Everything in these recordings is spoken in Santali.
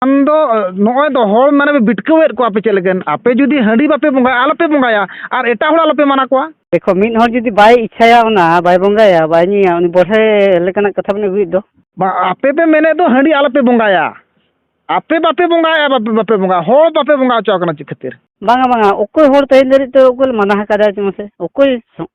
ᱟᱢ ᱫᱚ ᱱᱚᱜᱼᱚᱭ ᱫᱚ ᱦᱚᱲ ᱢᱟᱱᱮ ᱯᱮ ᱵᱷᱤᱴᱠᱟᱹᱣᱮᱫ ᱠᱚᱣᱟ ᱟᱯᱮ ᱪᱮᱫ ᱞᱟᱹᱜᱤᱫ ᱟᱯᱮ ᱡᱩᱫᱤ ᱦᱟᱺᱰᱤ ᱵᱟᱯᱮ ᱵᱚᱸᱜᱟᱭᱟ ᱟᱞᱚᱯᱮ ᱵᱚᱸᱜᱟᱭᱟ ᱟᱨ ᱮᱴᱟᱜ ᱦᱚᱲ ᱟᱞᱚᱯᱮ ᱢᱟᱱᱟ ᱠᱚᱣᱟ ᱫᱮᱠᱷᱚ ᱢᱤᱫ ᱦᱚᱲ ᱡᱩᱫᱤ ᱵᱟᱭ ᱤᱪᱪᱷᱟᱭᱟ ᱚᱱᱟ ᱵᱟᱭ ᱵᱚᱸᱜᱟᱭᱟ ᱵᱟᱭ ᱧᱩᱭᱟ ᱩᱱᱤ ᱵᱚᱲᱦᱮ ᱞᱮᱠᱟᱱᱟᱜ ᱠᱟᱛᱷᱟ ᱵᱮᱱ ᱟᱹᱜᱩᱭᱮᱫ ᱫᱚ ᱵᱟᱝ ᱟᱯᱮ ᱯᱮ ᱢᱮᱱᱮᱫ ᱫᱚ ᱦᱟᱺᱰᱤ ᱟᱞᱚᱯᱮ ᱵᱚᱸᱜᱟᱭᱟ ᱟᱯᱮ ᱵᱟᱯᱮ ᱵᱚᱸᱜᱟᱭᱟ ᱵᱟᱯᱮ ᱵᱚᱸᱜᱟᱭᱟ ᱦᱚᱲ ᱵᱟᱯᱮ ᱵᱚᱸᱜᱟ ᱦᱚᱪᱚ ᱟᱠᱚ ᱠᱟᱱᱟ ᱪᱮᱫ ᱠᱷᱟᱹᱛᱤᱨ ᱵᱟᱝᱟ ᱵᱟᱝᱟ ᱚᱠᱚᱭ ᱦᱚᱲ ᱛᱮᱦᱮᱧ ᱫᱷᱟᱹᱨᱤᱡ ᱛᱮ ᱚᱠᱚᱭ ᱞᱮ ᱢᱟᱱᱟ ᱟᱠᱟᱫᱟ ᱪᱮᱫ ᱢᱟᱥᱮ ᱚᱠᱚᱭ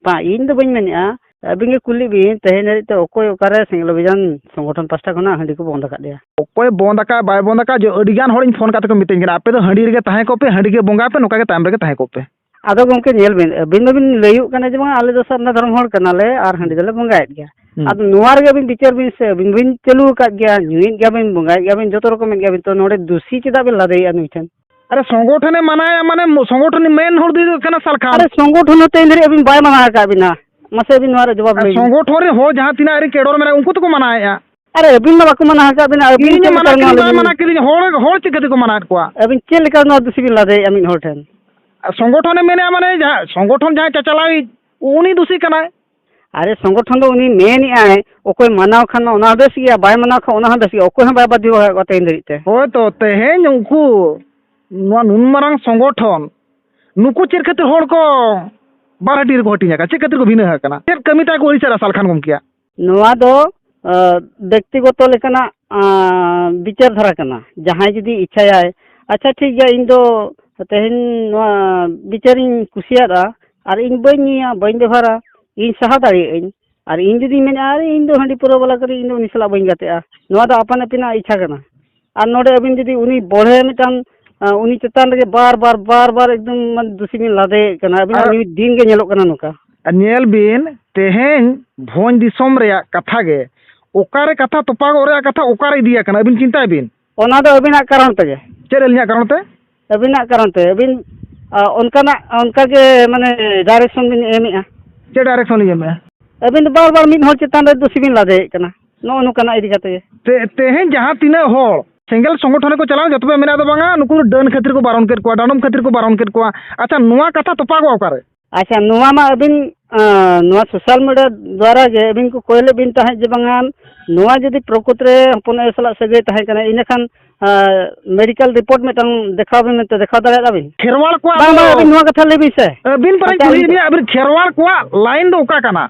ᱵᱟᱝ ᱤᱧ ᱫᱚ ᱵᱟᱹᱧ ᱢᱮᱱᱮᱫᱼᱟ ᱟᱹᱵᱤᱱ ᱜᱮ ᱠᱩᱞᱤ ᱵᱤᱱ ᱛᱮᱦᱮᱧ ᱫᱷᱟᱹᱨᱤᱡ ᱛᱮ ᱚᱠᱚᱭ ᱚᱠᱟᱨᱮ ᱥᱮᱸᱜᱮᱞ ᱚᱵᱷᱤᱡᱟᱱ ᱥᱚᱝᱜᱚᱴᱷᱚᱱ ᱯᱟᱥᱴᱟ ᱠᱷᱚᱱᱟᱜ ᱦᱟᱺᱰᱤ ᱠᱚ ᱵᱚᱱᱫᱽ ᱟᱠᱟᱫ ᱞᱮᱭᱟ ᱚᱠᱚᱭ ᱵᱚᱱᱫᱽ ᱟᱠᱟᱫ ᱵᱟᱭ ᱵᱚᱱᱫᱽ ᱟᱠᱟᱫ ᱡᱮ ᱟᱹᱰᱤ ᱜᱟᱱ ᱦᱚᱲᱤᱧ ᱯᱷᱳᱱ ᱠᱟᱛᱮᱫ ᱠᱚ ᱢᱤᱛᱟᱹᱧ ᱠᱟᱱᱟ ᱟᱯᱮ ᱫᱚ ᱦᱟᱺᱰᱤ ᱨᱮᱜᱮ ᱛᱟᱦᱮᱸ ᱠᱚᱜ ᱯᱮ ᱦᱟᱺᱰᱤ ᱜᱮ ᱵᱚᱸᱜᱟᱭ ᱯᱮ ᱱᱚᱝᱠᱟ ᱜᱮ ᱛᱟᱭᱚᱢ ᱨᱮᱜᱮ ᱛᱟᱦᱮᱸ ᱠᱚᱜ ᱯᱮ ᱟᱫᱚ ᱜᱚᱢᱠᱮ ᱧᱮᱞ ᱵᱤᱱ ᱟᱹᱵᱤᱱ ᱢᱟᱵᱤᱱ ᱞᱟᱹᱭᱚᱜ ᱠᱟᱱᱟ ᱡᱮ ᱵᱟᱝ ᱟᱞᱮ ᱫᱚ ᱥᱟᱨᱱᱟ ᱫᱷᱚᱨᱚᱢ ᱦᱚᱲ ᱠᱟᱱᱟᱞᱮ ᱟᱨ ᱦᱟᱺᱰᱤ ᱫᱚᱞᱮ ᱵᱚᱸᱜᱟᱭᱮᱫ ᱜᱮᱭᱟ ᱟᱫᱚ ᱱᱚᱣᱟ ᱨᱮᱜᱮ ᱟᱹᱵᱤᱱ ᱵᱤᱪᱟᱹᱨ ᱵᱤᱱ ᱥᱮ ᱟᱹᱵᱤᱱ ᱵᱤᱱ ᱪᱟᱹᱞᱩ ᱟᱠᱟᱫ ᱜᱮᱭᱟ ᱧᱩᱭᱮᱫ ᱜᱮᱭᱟᱵᱤᱱ ᱵᱚᱸᱜᱟᱭᱮᱫ ᱜᱮᱭᱟᱵᱤᱱ ᱡᱚᱛᱚ ᱨᱚᱠᱚᱢᱮᱫ ᱜᱮᱭᱟᱵᱤᱱ ᱛᱚ ᱱᱚᱰᱮ ᱫᱩᱥᱤ ᱪᱮᱫᱟᱜ ᱵᱤᱱ ᱞᱟᱫᱮᱭᱮᱫᱼᱟ ᱱᱩᱭ ᱴᱷᱮᱱ ᱟᱨᱮ ᱥᱚᱝᱜᱚᱴᱷᱚᱱᱮ ᱢᱟᱱᱟᱭᱟ ᱢᱟᱱᱮ ᱥᱚᱝᱜᱚᱴᱷᱚᱱ ᱢᱮᱱ ᱦᱚᱲ ᱫᱚ ᱦᱩᱭᱩᱜ ᱠᱟᱱᱟ ᱥᱟᱞᱠᱷᱟ ᱟᱨᱮ ᱥᱚᱝᱜᱚᱴᱷᱚᱱ ᱛᱮ ᱤᱧ ᱟᱹᱵᱤᱱ ᱵᱟᱭ ᱢᱟᱱᱟᱣ ᱟᱠᱟᱫ ᱵᱤᱱᱟ ᱢᱟᱥᱮ ᱟᱹᱵᱤᱱ ᱱᱚᱣᱟ ᱨᱮ ᱡᱚᱵᱟᱵ ᱞᱟᱹᱭ ᱥᱚᱝᱜᱚᱴᱷᱚᱱ ᱨᱮ ᱦᱚᱲ ᱡᱟᱦᱟᱸ ᱛᱤᱱᱟᱹᱜ ᱟᱹᱨᱤ ᱠᱮᱰᱚᱨ ᱢᱮᱱᱟᱜ ᱩᱱᱠᱩ ᱛᱮᱠᱚ ᱢᱟᱱᱟᱣᱮᱫᱼᱟ ᱟᱨᱮ ᱟᱹᱵᱤᱱ ᱢᱟ ᱵᱟᱠᱚ ᱢᱟᱱᱟᱣ ᱟᱠᱟᱫ ᱵᱤᱱᱟ ᱟᱹᱵᱤᱱ ᱪᱮᱫ ᱢᱟᱱᱟᱣ ᱠᱮᱫ ᱵᱟᱭ ᱢᱟᱱᱟᱣ ᱠᱮᱫ ᱞᱤᱧ ᱦᱚᱲ ᱦᱚᱲ ᱪᱤᱠᱟᱹ ᱛᱮᱠᱚ ᱢᱟᱱᱟᱣᱮᱫ ᱠᱚᱣᱟ ᱟᱹᱵᱤᱱ ᱪᱮᱫ ᱞᱮᱠᱟ ᱱᱚᱣᱟ ᱫᱩᱥᱤ ᱵᱤᱱ ᱞᱟᱫᱮᱭᱮᱫᱼᱟ ᱢᱤᱫ ᱦᱚᱲ ᱴᱷᱮᱱ ᱥᱚᱝᱜᱚᱴᱷᱚᱱᱮ ᱢᱮᱱᱮᱫᱼᱟ ᱢᱟᱱᱮ ᱡᱟᱦᱟᱸ ᱥᱚᱝᱜᱚᱴᱷᱚᱱ ᱡᱟᱦᱟᱸᱭ ᱪᱟᱪᱟᱞᱟᱣᱤᱡ ᱩᱱᱤ ᱫᱩᱥᱤ ᱠᱟᱱᱟᱭ ᱟᱨᱮ ᱥᱚᱝᱜᱚᱴᱷᱚᱱ ᱫᱚ ᱩᱱᱤ ᱢᱮᱱ ᱮᱫᱟᱭ ᱚᱠᱚᱭ ᱢᱟᱱᱟᱣ ᱠᱷᱟᱱ ᱢᱟ ᱚᱱᱟ ᱦᱚᱸ ᱵᱮᱥ ᱜᱮᱭᱟ ᱵᱟᱭ ᱢᱟᱱᱟᱣ ᱠᱷᱟᱱ ᱚᱱᱟ ᱦᱚᱸ ᱵᱮᱥ ᱜᱮᱭᱟ ᱚᱠᱚᱭ ᱦᱚᱸ ᱵᱟᱭ ᱵᱟᱫᱽᱫᱷᱚ ᱟᱠᱟᱫ ᱠᱚᱣᱟ ᱛᱮᱦᱮᱧ ᱫᱷᱟᱹᱨᱤᱡ ᱛᱮ ᱦᱳᱭ ᱛᱚ ᱛᱮᱦᱮᱧ ᱩᱱᱠᱩ ᱱᱚᱣᱟ ᱱᱩᱱ ᱢᱟᱨᱟᱝ ᱥᱚᱝᱜᱚᱴᱷᱚᱱ ᱱᱩᱠᱩ ᱪᱮᱫ ᱠᱷᱟᱹᱛᱤᱨ ᱦᱚᱲ ᱠᱚ ᱵᱟᱨ ᱦᱟᱹᱴᱤᱧ ᱨᱮᱠᱚ ᱦᱟᱹᱴᱤᱧ ᱟᱠᱟᱱᱟ ᱪᱮᱫ ᱠᱷᱟᱹᱛᱤᱨ ᱠᱚ ᱵᱷᱤᱱᱟᱹ ᱟᱠᱟᱱᱟ ᱪᱮᱫ ᱠᱟᱹᱢᱤ ᱛᱟᱭ ᱠᱚ ᱟᱹᱲᱤᱥᱟ ᱨᱟᱥᱟᱞ ᱠᱷᱟᱱ ᱜᱚᱢᱠᱮᱭᱟᱜ ᱱᱚᱣᱟ ᱫᱚ ᱵᱮᱠᱛᱤᱜᱚᱛᱚ ᱞᱮᱠᱟᱱᱟᱜ ᱵᱤᱪᱟᱹᱨ ᱫᱷᱟᱨᱟ ᱠᱟᱱᱟ ᱡᱟᱦᱟᱸᱭ ᱡᱩᱫᱤ ᱤᱪᱪᱷᱟᱭᱟᱭ ᱟᱪᱪᱷᱟ ᱴᱷᱤᱠ ᱜᱮᱭᱟ ᱤᱧ ᱫᱚ ᱛᱮᱦᱮᱧ ᱱᱚᱣᱟ ᱵᱤᱪᱟᱹᱨᱤᱧ ᱠᱩᱥᱤᱭᱟᱫᱼᱟ ᱟᱨ ᱤᱧ ᱵᱟᱹᱧ ᱧᱩᱭᱟ ᱵᱟᱹᱧ ᱵᱮᱵᱷᱟᱨᱟ ᱤᱧ ᱥᱟᱦᱟ ᱫᱟᱲᱮᱭᱟᱜ ᱟᱹᱧ ᱟᱨ ᱤᱧ ᱡᱩᱫᱤᱧ ᱢᱮᱱᱟ ᱟᱨᱮ ᱤᱧ ᱫᱚ ᱦᱟᱺᱰᱤ ᱯᱟᱹᱣᱨᱟᱹ ᱵᱟᱞᱟ ᱠᱟᱹᱱᱟᱹᱧ ᱤᱧ ᱫᱚ ᱩᱱᱤ ᱥᱟᱞᱟᱜ ᱵᱟᱹᱧ ᱜᱟᱛᱮᱜᱼᱟ ᱱᱚᱣᱟ ᱫᱚ ᱟᱯᱟᱱ ᱟᱹᱯᱤᱱᱟᱜ ᱤᱪᱪᱷᱟ ᱠᱟᱱᱟ ᱟᱨ ᱱᱚᱰᱮ ᱟᱹᱵᱤᱱ ᱡᱩᱫᱤ ᱩᱱᱤ ᱵᱚᱲᱦᱮ ᱢᱤᱫᱴᱟᱝ ᱩᱱᱤ ᱪᱮᱛᱟᱱ ᱨᱮᱜᱮ ᱵᱟᱨ ᱵᱟᱨ ᱵᱟᱨ ᱵᱟᱨ ᱮᱠᱫᱚᱢ ᱢᱟᱱᱮ ᱫᱩᱥᱤ ᱵᱤᱱ ᱞᱟᱫᱮᱭᱮᱫ ᱠᱟᱱᱟ ᱟᱹᱵᱤᱱᱟᱜ ᱱᱤᱭᱩᱡᱽ ᱫᱤᱱ ᱜᱮ ᱧᱮᱞᱚᱜ ᱠᱟᱱᱟ ᱱᱚᱝᱠᱟ ᱧᱮᱞ ᱵᱤᱱ ᱛᱮᱦᱮᱧ ᱵᱷᱚᱸᱡᱽ ᱫᱤᱥᱚᱢ ᱨᱮᱭᱟᱜ ᱠᱟᱛᱷᱟ ᱜᱮ ᱚᱠᱟᱨᱮ ᱠᱟᱛᱷᱟ ᱛᱚᱯᱟᱜᱚᱜ ᱨᱮᱭᱟᱜ ᱠᱟᱛᱷᱟ ᱚᱠᱟᱨᱮ ᱤᱫᱤᱭᱟᱠᱟᱱᱟ ᱟᱹᱵᱤᱱ ᱪᱤᱱᱛᱟᱹᱭ ᱵᱤᱱ ᱚᱱᱟ ᱫᱚ ᱟᱹᱵᱤᱱᱟᱜ ᱠᱟᱨᱚᱱ ᱛᱮᱜᱮ ᱪᱮᱫ ᱟᱹᱞᱤᱧᱟᱜ ᱠᱟᱨᱚᱱ ᱛᱮ ᱟᱹᱵᱤᱱᱟᱜ ᱠᱟᱨᱚᱱ ᱛᱮ ᱟᱹᱵᱤᱱ ᱚᱱᱠᱟᱱᱟᱜ ᱚᱱᱠᱟ ᱜᱮ ᱢᱟᱱᱮ ᱰᱟᱭᱨᱮᱠᱥᱚᱱ ᱵᱤᱱ ᱮᱢᱮᱫᱼᱟ ᱪᱮᱫ ᱰᱟᱭᱨᱮᱠᱥᱚᱱ ᱞᱤᱧ ᱮᱢᱮᱫᱼᱟ ᱟᱹᱵᱤᱱ ᱫᱚ ᱵᱟᱨ ᱵᱟᱨ ᱢᱤᱫ ᱦᱚᱲ ᱪᱮᱛᱟᱱ ᱨᱮ ᱫᱩᱥᱤ ᱵᱤᱱ ᱞᱟᱫᱮᱭᱮᱫ ᱠᱟᱱᱟ ᱱᱚᱜᱼᱚ ᱱᱚᱝᱠᱟᱱᱟᱜ ᱤᱫᱤ ᱠᱟᱛᱮ ᱜᱮ ᱛᱮ ᱛᱮᱦᱮᱧ ᱡᱟᱦᱟᱸ ᱛᱤᱱᱟᱹᱜ ᱦᱚᱲ ᱥᱮᱸᱜᱮᱞ ᱥᱚᱝᱜᱚᱴᱷᱚᱱ ᱨᱮᱠᱚ ᱪᱟᱞᱟᱣ ᱡᱚᱛᱚ ᱯᱮ ᱢᱮᱱᱟ ᱫᱚ ᱵᱟᱝᱟ ᱱᱩᱠᱩ ᱫᱚ ᱰᱟᱹᱱ ᱠᱷᱟᱹᱛᱤᱨ ᱠᱚ ᱵᱟᱨᱚᱱ ᱠᱮᱫ ᱠᱚᱣᱟ ᱰᱟᱸᱰᱚᱢ ᱠᱷᱟᱹᱛᱤᱨ ᱠᱚ ᱵᱟᱨᱚᱱ ᱠᱮᱫ ᱠᱚᱣᱟ ᱟᱪᱪᱷᱟ ᱱᱚᱣᱟ ᱠᱟᱛᱷᱟ ᱛᱚᱯᱟᱜᱚᱜᱼᱟ ᱚᱠᱟᱨᱮ ᱟᱪᱪᱷᱟ ᱱᱚᱣᱟ ᱢᱟ ᱟᱹᱵᱤᱱ ᱱᱚᱣᱟ ᱥᱳᱥᱟᱞ ᱢᱤᱰᱤᱭᱟ ᱫᱟᱨᱟᱭ ᱛᱮ ᱟᱹᱵᱤᱱ ᱠᱚ ᱠᱚᱭ ᱞᱮᱫ ᱵᱤᱱ ᱛᱟᱦᱮᱸᱫ ᱡᱮ ᱵᱟᱝᱟ ᱱᱚᱣᱟ ᱡᱩᱫᱤ ᱯᱨᱚᱠᱩᱛ ᱨᱮ ᱦᱚᱯᱚᱱ ᱟᱭᱳ ᱥᱟᱞᱟᱜ ᱥᱟᱹᱜᱟᱹᱭ ᱛᱟᱦᱮᱸ ᱠᱟᱱᱟ ᱤᱱᱟᱹ ᱠᱷᱟᱱ ᱢᱮᱰᱤᱠᱮᱞ ᱨᱤᱯᱳᱨᱴ ᱢᱤᱫᱴᱟᱝ ᱫᱮᱠᱷᱟᱣ ᱵᱤᱱ ᱢᱮᱱᱛᱮ ᱫᱮᱠᱷᱟᱣ ᱫᱟᱲᱮᱭᱟᱜᱼᱟ ᱵᱤᱱ ᱠᱷᱮᱨᱣᱟᱲ ᱠᱚᱣᱟᱜ ᱵᱟᱝ ᱵᱟᱝ ᱟᱹᱵᱤᱱ ᱱᱚᱣᱟ ᱠᱟᱛᱷᱟ ᱞᱟᱹᱭ ᱵᱤᱱ ᱥᱮ ᱟᱹᱵᱤᱱ ᱯᱟᱨᱮ ᱠᱩᱞᱤᱭᱮᱫ ᱵᱤᱱᱟ ᱟᱹᱵᱤᱱ ᱠᱷᱮᱨᱣᱟᱲ ᱠᱚᱣᱟᱜ ᱞᱟᱭᱤᱱ ᱫᱚ ᱚᱠᱟ ᱠᱟᱱᱟ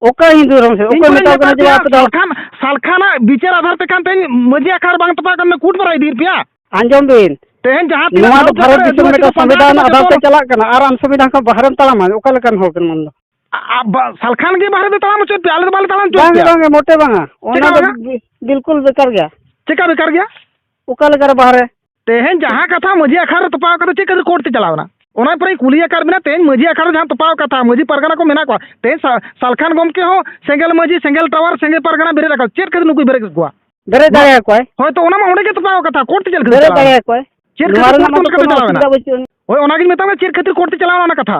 ᱚᱠᱟ ᱦᱤᱱᱫᱩ ᱫᱷᱚᱨᱚᱢ ᱥᱮ ᱚᱠᱚᱭ ᱢᱮᱛᱟᱣ ᱠᱟᱱᱟ ᱡᱮ ᱟᱯᱮ ᱫᱚ ᱥᱟᱞᱠᱷᱟᱱ ᱥᱟᱞᱠᱷᱟᱱᱟᱜ ᱵᱤᱪᱟᱹᱨ ᱟᱫᱷᱟᱨ ᱛᱮ ᱠᱟᱱ ᱛᱮᱦᱮᱧ ᱢᱟᱹᱡᱷᱤ ᱟᱠᱷᱟᱲ ᱵᱟᱝ ᱛᱚᱯᱟᱜ ᱠᱟᱱ ᱠᱩᱴ ᱵᱟᱨᱟ ᱤᱫᱤᱭᱮᱫ ᱯᱮᱭᱟ ᱟᱸᱡᱚᱢ ᱵᱤᱱ ᱛᱮᱦᱮᱧ ᱡᱟᱦᱟᱸ ᱛᱤᱱᱟᱹᱜ ᱱᱚᱣᱟ ᱫᱚ ᱵᱷᱟᱨᱚᱛ ᱫᱤᱥᱚᱢ ᱢᱤᱫᱴᱟᱝ ᱥᱚᱝᱵᱤᱫᱷᱟᱱ ᱟᱫᱷᱟᱨ ᱛᱮ ᱪᱟᱞᱟᱜ ᱠᱟᱱᱟ ᱟᱨ ᱟᱢ ᱥᱚᱝᱵᱤᱫᱷᱟᱱ ᱠᱷᱚᱱ ᱵᱟᱦᱨᱮᱢ ᱛᱟᱲᱟᱢᱟ ᱚᱠᱟ ᱞᱮᱠᱟᱱ ᱦᱚᱲ ᱠᱟᱱᱟ ᱟᱢ ᱫᱚ ᱥᱟᱞᱠᱷᱟᱱ ᱜᱮ ᱵᱟᱦᱨᱮ ᱫᱚ ᱛᱟᱲᱟᱢ ᱦᱚᱪᱚᱭᱮᱫ ᱯᱮᱭᱟ ᱟᱞᱮ ᱫᱚ ᱵᱟᱞᱮ ᱛᱟᱲᱟᱢ ᱦᱚᱪᱚᱭᱮᱫ ᱯᱮᱭᱟ ᱵᱟᱝ ᱢᱚᱴᱮ ᱵᱟᱝᱟ ᱚᱱᱟ ᱫᱚ ᱵᱤᱞᱠᱩᱞ ᱵᱮᱠᱟᱨ ᱜᱮᱭᱟ ᱪᱮᱠᱟ ᱵᱮᱠᱟᱨ ᱜᱮᱭᱟ ᱚᱠᱟ ᱞᱮᱠᱟᱨᱮ ᱵᱟᱦᱨᱮ ᱛᱮᱦᱮᱧ ᱡᱟᱦᱟᱸ ᱠᱟᱛᱷᱟ ᱢᱟᱹᱡᱷᱤ ᱟᱠᱷᱲᱟ ᱨᱮ ᱛᱚᱯᱟᱣ ᱠᱟᱛᱮ ᱪᱮᱫ ᱠᱷᱟᱹᱛᱤᱨ ᱠᱳᱨᱴ ᱛᱮ ᱪᱟᱞᱟᱣ ᱮᱱᱟ ᱚᱱᱟ ᱯᱚᱨᱮ ᱠᱩᱞᱤ ᱟᱠᱟᱫ ᱵᱮᱱᱟ ᱛᱮᱦᱮᱧ ᱢᱟᱹᱡᱷᱤ ᱟᱠᱷᱲᱟ ᱨᱮ ᱡᱟᱦᱟᱸ ᱛᱚᱯᱟᱣ ᱠᱟᱛᱷᱟ ᱢᱟᱹᱡᱷᱤ ᱯᱟᱨᱜᱟᱱᱟ ᱠᱚ ᱢᱮᱱᱟᱜ ᱠᱚᱣᱟ ᱛᱮᱦᱮᱧ ᱥᱟᱞᱠᱷᱟᱱ ᱜᱚᱢᱠᱮ ᱦᱚᱸ ᱥᱮᱸᱜᱮᱞ ᱢᱟᱹᱡᱷᱤ ᱥᱮᱸᱜᱮᱞ ᱴᱟᱣᱟᱨ ᱥᱮᱸᱜᱮᱞ ᱯᱟᱨᱜᱟᱱᱟ ᱵᱮᱨᱮᱫ ᱟᱠᱟᱫ ᱪᱮᱫ ᱠᱷᱟᱹᱛᱤᱨ ᱱᱩᱠᱩᱭ ᱵᱮᱨᱮᱫ ᱠᱚᱣᱟ ᱵᱮᱨᱮᱫ ᱫᱟᱲᱮᱭᱟ ᱠᱚᱣᱟᱭ ᱦᱳᱭ ᱛᱚ ᱚᱱᱟ ᱢᱟ ᱚᱸᱰᱮ ᱜᱮ ᱛᱚᱯᱟᱣ ᱠᱟᱛᱷᱟ ᱠᱳᱨᱴ ᱛᱮ ᱪᱮᱫ ᱠᱷᱟᱹᱛᱤᱨ ᱵᱮᱨᱮᱫ ᱫᱟᱲᱮᱭᱟ ᱠᱚᱣᱟᱭ ᱪᱮᱫ ᱠᱷᱟᱹᱛᱤᱨ ᱠᱳᱨᱴ ᱛᱮ ᱪᱟᱞᱟᱣ ᱮᱱᱟ ᱦᱳᱭ ᱚᱱᱟᱜᱤᱧ ᱢᱮᱛᱟᱢᱟ ᱪᱮᱫ ᱠᱷᱟᱹᱛᱤᱨ ᱠᱳᱨᱴ ᱛᱮ ᱪᱟᱞᱟᱣ ᱮᱱᱟ ᱚᱱᱟ ᱠᱟᱛᱷᱟ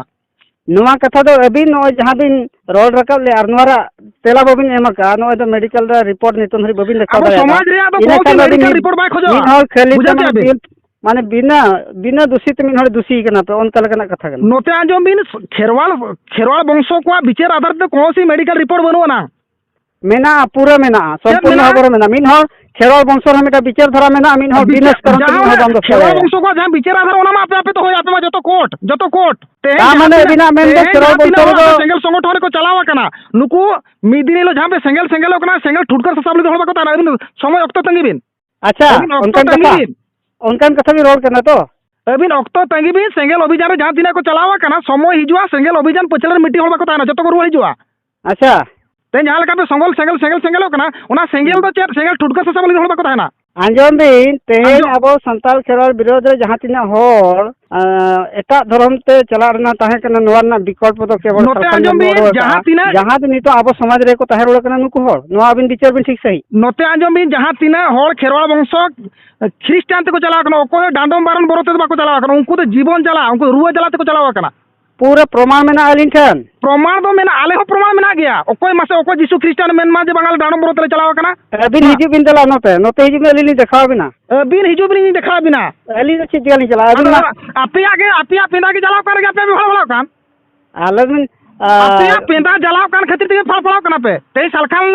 ᱱᱚᱣᱟ ᱠᱟᱛᱷᱟ ᱫᱚ ᱟᱹᱵᱤᱱ ᱱᱚᱜᱼᱚᱭ ᱡᱟᱦᱟᱸ ᱵᱤᱱ ᱨᱚᱲ ᱨᱟᱠᱟᱵ ᱞᱮᱫ ᱟᱨ ᱱᱚᱣᱟ ᱨᱮᱭᱟᱜ ᱛᱮᱞᱟ ᱵᱟᱹᱵᱤᱱ ᱮᱢ ᱟᱠᱟᱫᱼᱟ ᱱᱚᱜᱼᱚᱭ ᱫᱚ ᱢᱮᱰᱤᱠᱟᱞ ᱨᱮ ᱨᱤᱯᱳᱨᱴ ᱱᱤᱛᱚᱝ ᱫᱷᱟᱹᱨᱤᱡ ᱵᱟᱹᱵᱤᱱ ᱫᱮᱠᱷᱟᱣ ᱟᱵᱚ ᱥᱚᱢᱟᱡᱽ ᱨᱮᱭᱟᱜ ᱫᱚ ᱫᱟᱲᱮᱭᱟᱜᱼᱟ ᱠᱳᱱᱳ ᱢᱮᱰᱤᱠᱟᱞ ᱨᱤᱯᱳᱨᱴ ᱵᱟᱭ ᱠᱷᱚᱡᱚᱜᱼᱟ ᱢᱤᱫ ᱦᱚᱲ ᱠᱷᱟᱹᱞᱤ ᱵᱩᱡᱷᱟᱹᱣ ᱠᱮᱜᱼᱟ ᱵᱤᱱ? ᱢᱟᱱᱮ- ᱢᱟᱱᱮ ᱵᱤᱱᱟᱹ ᱵᱤᱱᱟᱹ ᱫᱩᱥᱤ ᱛᱮ ᱢᱤᱫ ᱦᱚᱲ ᱫᱩᱥᱤ ᱠᱟᱱᱟ ᱯᱮ ᱚᱱᱠᱟ ᱞᱮᱠᱟᱱᱟᱜ ᱠᱟᱛᱷᱟ ᱠᱟᱱᱟ ᱱᱚᱛᱮ ᱟᱸᱡᱚᱢ ᱵᱤᱱ ᱠᱷᱮᱨᱣᱟᱞ ᱠᱷᱮᱨᱣᱟᱞ ᱵᱚᱝᱥᱚ ᱠᱚᱣᱟᱜ ᱵᱤᱪᱟᱹᱨ ᱟᱫᱷᱟᱨ ᱛᱮ ᱠᱳᱱᱳ ᱥᱤ ᱢᱮᱰᱤᱠᱟᱞ ᱨᱤᱯᱳᱨᱴ ᱵᱟᱹᱱᱩᱜ ᱟᱱᱟ ᱢᱮᱱᱟᱜᱼᱟ ᱯᱩᱨᱟᱹ ᱢᱮᱱᱟᱜᱼᱟ ᱥᱚᱢᱯᱩᱨᱱᱚ ᱦᱚᱵᱚᱨ ᱢᱮᱱᱟᱜᱼᱟ ᱢᱤᱫ ᱦᱚᱲ ᱠᱷᱮᱨᱣᱟᱞ ᱵᱚᱝᱥᱚ ᱨᱮ ᱢᱤᱫᱴᱟᱝ ᱵᱤᱪᱟᱹᱨ ᱫᱷᱟᱨᱟ ᱢᱮᱱᱟᱜᱼᱟ ᱢᱤᱫ ᱦᱚᱲ ᱵᱤᱱᱟᱥ ᱠᱟᱨᱚᱱ ᱛᱮ ᱢᱤᱫ ᱦᱚᱲ ᱵᱟᱝ ᱫᱚᱥ ᱠᱷᱮᱨᱣᱟᱞ ᱵᱚᱝᱥᱚ ᱠᱚᱣᱟᱜ ᱡᱟᱦᱟᱸ ᱵᱤᱪᱟᱹᱨ ᱟᱫᱷᱟᱨ ᱚᱱᱟ ᱢᱟ ᱟᱯᱮ ᱟᱯᱮ ᱫᱚᱦᱚᱭᱟ ᱟᱯᱮ ᱢᱟ ᱡᱚᱛᱚ ᱠᱳᱨᱴ ᱡᱚᱛᱚ ᱠᱳᱨᱴ ᱛᱟᱨ ᱢᱟᱱᱮ ᱟᱹᱵᱤᱱᱟᱜ ᱢᱮᱱ ᱫᱚ ᱠᱷᱮᱨᱣᱟᱞ ᱵᱚᱝᱥᱚ ᱨᱮᱫᱚ ᱥᱮᱸᱜᱮᱞ ᱥᱚᱝᱜᱚᱴᱷᱚᱱ ᱨᱮᱠᱚ ᱪᱟᱞᱟᱣ ᱟᱠᱟᱱᱟ ᱱᱩᱠᱩ ᱢᱤᱫ ᱫᱤᱱ ᱦᱤᱞᱳᱜ ᱡᱟᱦᱟᱸ ᱯᱮ ᱥᱮᱸᱜᱮᱞ ᱥᱮᱸᱜᱮᱞᱚᱜ ᱠᱟᱱᱟ ᱥᱮᱸᱜᱮᱞ ᱴᱷᱩᱴᱠᱟᱹᱨ ᱥᱟᱥᱟᱵ ᱞᱟᱹᱜᱤᱫ ᱦᱚᱲ ᱵᱟᱠᱚ ᱛᱟᱦᱮᱱᱟ ᱟᱹᱵᱤᱱ ᱥᱚᱢᱚᱭ ᱚᱠᱛᱚ ᱛᱟᱺᱜᱤ ᱵᱤᱱ ᱟᱪᱪᱷᱟ ᱚᱱᱠᱟᱱ ᱠᱟᱛᱷᱟ ᱚᱱᱠᱟᱱ ᱠᱟᱛᱷᱟ ᱵᱤᱱ ᱨᱚᱲ ᱠᱟᱱᱟ ᱛᱚ ᱟᱹᱵᱤᱱ ᱚᱠᱛᱚ ᱛᱟᱺᱜᱤ ᱵᱤᱱ ᱥᱮᱸᱜᱮᱞ ᱚᱵᱷᱤᱡᱟᱱ ᱨᱮ ᱡᱟᱦᱟᱸ ᱛᱤᱱᱟᱹᱜ ᱠᱚ ᱪᱟᱞᱟᱣ ᱟᱠᱟᱱᱟ ᱥᱚᱢᱚᱭ ᱦᱤᱡᱩᱜᱼᱟ ᱥᱮᱸᱜᱮᱞ ᱚᱵᱷᱤᱡᱟᱱ ᱯᱟᱹᱪᱷᱞᱟᱹ ᱨᱮ ᱢᱤᱫᱴᱤᱡ ᱦᱚᱲ ᱵᱟᱠᱚ ᱛᱟᱦᱮᱱᱟ ᱡᱚᱛᱚ ᱠᱚ ᱨᱩᱣᱟᱹᱲ ᱦᱤᱡᱩᱜᱼᱟ ᱟᱪᱪᱷᱟ ᱛᱮ ᱡᱟᱦᱟᱸ ᱞᱮᱠᱟ ᱯᱮ ᱥᱚᱝᱜᱚᱞ ᱥᱮᱸᱜᱮᱞ ᱥᱮᱸᱜᱮᱞ ᱥᱮᱸᱜᱮᱞᱚᱜ ᱠᱟᱱᱟ ᱚᱱᱟ ᱥᱮᱸᱜᱮᱞ ᱫᱚ ᱪᱮᱫ ᱥᱮᱸᱜᱮᱞ ᱴᱩᱴᱠᱟᱹ ᱥᱟᱥᱟᱝ ᱵᱟᱹᱞᱤ ᱦᱚᱲ ᱵᱟᱠᱚ ᱛᱟᱦᱮᱱᱟ ᱟᱸᱡᱚᱢ ᱵᱤᱱ ᱛᱮᱦᱮᱧ ᱟᱵᱚ ᱥᱟᱱᱛᱟᱲ ᱠᱷᱮᱨᱣᱟᱲ ᱵᱤᱨᱳᱫᱷ ᱨᱮ ᱡᱟᱦᱟᱸ ᱛᱤᱱᱟᱹᱜ ᱦᱚᱲ ᱮᱴᱟᱜ ᱫᱷᱚᱨᱚᱢ ᱛᱮ ᱪᱟᱞᱟᱜ ᱨᱮᱱᱟᱜ ᱛᱟᱦᱮᱸ ᱠᱟᱱᱟ ᱱᱚᱣᱟ ᱨᱮᱱᱟᱜ ᱵᱤᱠᱚᱞᱯᱚ ᱫᱚ ᱠᱮᱵᱚᱞ ᱡᱟᱦᱟᱸ ᱛᱤᱱᱟᱹᱜ ᱡᱟᱦᱟᱸ ᱫᱚ ᱱᱤᱛᱚᱜ ᱟᱵᱚ ᱥᱚᱢᱟᱡᱽ ᱨᱮᱠᱚ ᱛᱟᱦᱮᱸ ᱨᱩᱣᱟᱹᱲ ᱠᱟᱱᱟ ᱱᱩᱠᱩ ᱦᱚᱲ ᱱᱚᱣᱟ ᱟᱵᱤᱱ ᱵᱤᱪᱟᱹᱨ ᱵᱤᱱ ᱴᱷᱤᱠ ᱥᱟᱺᱦᱤᱡ ᱱᱚᱛᱮ ᱟᱸᱡᱚᱢ ᱵᱤᱱ ᱡᱟᱦᱟᱸ ᱛᱤᱱᱟᱹᱜ ᱦᱚᱲ ᱠᱷᱮᱨᱣᱟᱲ ᱵᱚᱝᱥᱚ ᱠᱷᱨᱤᱥᱴᱟᱱ ᱛᱮᱠᱚ ᱪᱟᱞᱟᱣ ᱠᱟᱱᱟ ᱚᱠᱚᱭ ᱰᱟᱸᱰᱚᱢ ᱵᱟᱨᱚᱱ ᱵᱚᱨᱚ ᱛᱮᱫᱚ ᱵᱟᱠᱚ ᱪᱟᱞᱟᱣ ᱠᱟᱱᱟ ᱩᱱᱠᱩ ᱫᱚ ᱡᱤᱵᱚᱱ ᱡᱟᱞᱟ ᱩᱱᱠᱩ ᱨᱩᱣᱟᱹ ᱡᱟᱞᱟ ᱛᱮᱠᱚ ᱪᱟᱞᱟᱣ ᱠᱟᱱᱟ ᱯᱩᱨᱟᱹ ᱯᱨᱚᱢᱟᱱ ᱢᱮᱱᱟᱜᱼᱟ ᱟᱹᱞᱤᱧ ᱴᱷᱮᱱ ᱯᱨᱚᱢᱟᱱ ᱫᱚ ᱢᱮᱱᱟᱜᱼᱟ ᱟᱞᱮ ᱦᱚᱸ ᱯᱨᱚᱢᱟᱱ ᱢᱮᱱᱟᱜ ᱜᱮᱭᱟ ᱚᱠᱚᱭ ᱢᱟᱥᱮ ᱚᱠᱚᱭ ᱡᱤᱥᱩ ᱠᱷᱨᱤᱥᱴᱟᱱ ᱢᱮᱱ ᱢᱟ ᱡᱮ ᱵᱟᱝ ᱟᱞᱮ ᱰᱟᱸᱰᱚᱢ ᱵᱚᱨᱚ ᱛᱮᱞᱮ ᱪᱟᱞᱟᱣ ᱟᱠᱟᱱᱟ ᱟᱹᱵᱤᱱ ᱦᱤᱡᱩᱜ ᱵᱤᱱ ᱫᱮᱞᱟ ᱱᱚᱛᱮ ᱱᱚᱛᱮ ᱦᱤᱡᱩᱜ ᱵᱤᱱ ᱟᱹᱞᱤᱧ ᱞᱤᱧ ᱫᱮᱠᱷᱟᱣ ᱵᱤᱱᱟ ᱟᱹᱵᱤᱱ ᱦᱤᱡᱩᱜ ᱵᱤᱱ ᱤᱧ ᱫᱮᱠᱷᱟᱣ ᱵᱤᱱᱟ ᱟᱹᱞᱤᱧ ᱫᱚ ᱪᱮᱫ ᱪᱤᱠᱟᱹ ᱞᱤᱧ ᱪᱟᱞᱟᱜᱼᱟ ᱟᱹᱵᱤᱱ ᱢᱟ ᱟᱯᱮᱭᱟᱜ ᱜᱮ ᱟᱯᱮᱭᱟᱜ ᱯᱮᱸᱫᱟ ᱜᱮ ᱡᱟᱞᱟᱣ ᱠᱟᱱ ᱨᱮᱜᱮ ᱟᱯᱮ ᱵᱷᱟᱲᱟ ᱵᱷᱟᱲᱟᱣ ᱠᱟᱱ ᱟᱞᱮ ᱵᱤᱱ ᱟᱯᱮᱭᱟᱜ ᱯᱮᱸᱫᱟ ᱡᱟᱞᱟᱣ ᱠᱟᱱ ᱠᱷᱟᱹᱛᱤᱨ ᱛᱮᱜᱮ ᱯᱷᱟᱲ ᱯᱷᱟᱲᱟᱣ ᱠᱟᱱᱟ ᱯᱮ ᱛᱮᱦᱮᱧ ᱥᱟᱞᱠᱷᱟᱱ